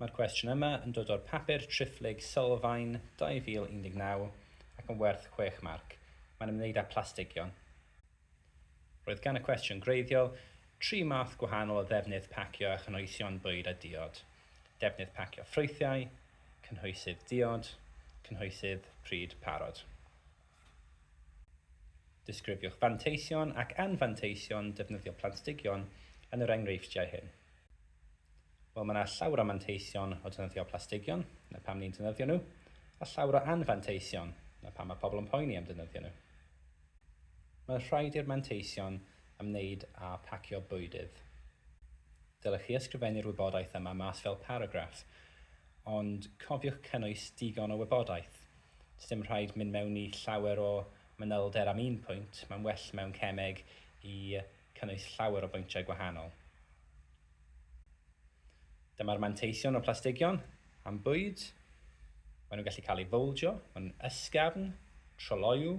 Mae'r cwestiwn yma yn dod o'r papur triphlyg Sylfaen 2019 ac yn werth chwech marc. Mae'n ymwneud â phlastigion. Roedd gan y cwestiwn gwreiddiol tri math gwahanol o ddefnydd pacio a chynhwysion bwyd a diod, defnydd pacio ffrwythiau, cynhwysydd diod, cynhwysydd pryd parod. Disgrifiwch fanteision ac anfanteision defnyddio planstigion yn yr enghreifftiau hyn. Wel, mae yna llawr o manteision o defnyddio plastigion, na pam ni'n defnyddio nhw, a llawr o anfanteision, na pam mae pobl yn poeni am defnyddio nhw. Mae'n rhaid i'r manteision ymwneud â phacio bwydydd. Dylech chi ysgrifennu'r wybodaeth yma mas fel paragraff, ond cofiwch cynnwys digon o wybodaeth Does dim rhaid mynd mewn i llawer o manylder am un pwynt, mae'n well mewn cemeg i cynnwys llawer o bwyntiau gwahanol. Dyma'r manteision o plastigion am bwyd. Maen nhw'n gallu cael eu fowldio, maen nhw'n ysgafn, troloyw,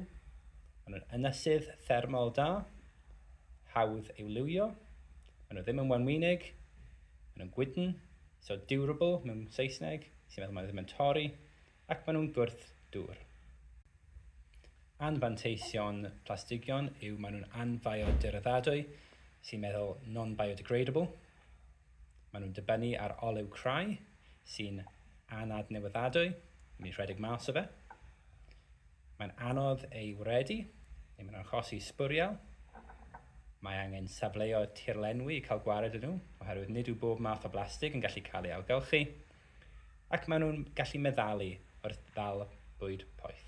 maen nhw'n ynysydd thermol da, hawdd i'w liwio, maen nhw ddim yn wenwynig, maen nhw'n gwydn, so durable mewn Saesneg, sy'n meddwl maen nhw ddim yn torri, ac maen nhw'n gwrth dŵr. Anfanteision plastigion yw maen nhw'n anfiodyraddadwy, sy'n meddwl non-biodegradable. Maen nhw'n dibynnu ar olew crai, sy'n anadnewyddadwy, yn mynd i rhedeg mas o fe. Mae'n anodd ei wredu, neu mae'n achosi sbwriel. Mae angen safleoedd tirlenwi i cael gwared â nhw, oherwydd nid yw bob math o blastig yn gallu cael ei ailgylchu. ac maen nhw'n gallu meddalu wrth ddal bwyd poeth.